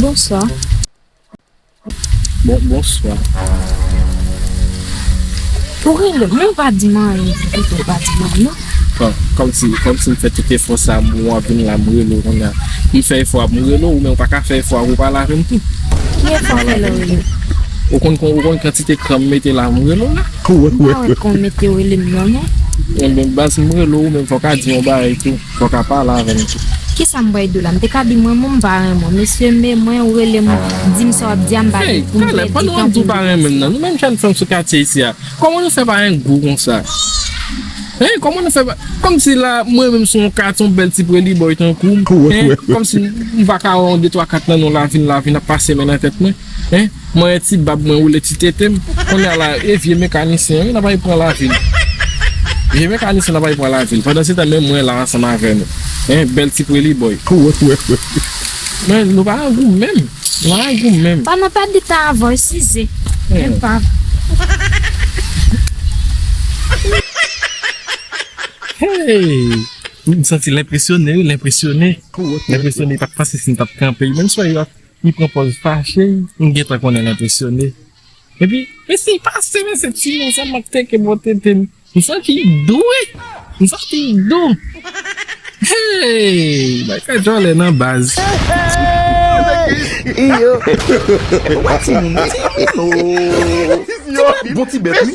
Bonswa. Bon bonswa. Ou rele m, men ou pa di m anyen di tout, ou pa di m anyen non. Bon, kòm si, kòm si m fè tout efò sa a m wè w ap vin la m rele w kounya. M fè efò a pou m rele w men ou pa ka fè efò a pou w pale avè m tou. Ki efò w rele m yo? Ou konn kon, ou konn kantite kran m mete la m rele w la? M pa wè kran w mete rele m nan non. Enben baz m rele w ou menm fò w ka di m yon bagay tou. Fok apa la avem tou. Kisa m bwè dlo la m te ka di mwen menm m pa renmen w mesye me mwen ou rele m di m sa wap di a m pa gen pou m vle di tanpri m te pase la. Nou menm jèn fanm sou katye isi a Koman nou fè pa gen gou konsa Hein Koman nou fè pa Komsi la mwen menm son kat yon bèl ti preli boy tankou m Hein Komsi m paka wè yon de twa kat nan non lavin lavin ap pase men nan tèt mwen. Hein manyen ti bab mwen woule ti tete m konnya la e vye mekanisyen an wi nap al pran lavi n vye mekanisyen an nap al pran lavi n pandan se tan menm mwen la ansanm avè nou hein bèl ti preli boy. Men nou pa nan gou menm nou pa nan gou menm. Pandan pèdi tan avè w size enpav. Hey m santi l enpresyone wi l enpresyone l enpresyone li pat panse si m tap kanpe menm si w wè yo ap Li pran pòz fache, m gentan konnen l enpresyone. Epi, mesye pase men se ti men sa m ap teke bò tete m. M santi l dou wi! M santi l dou! Hey! Bagay djòlè nan baz! Iyoo! Bon timoun, timoun oo! Timoun la bon ti bèt wi!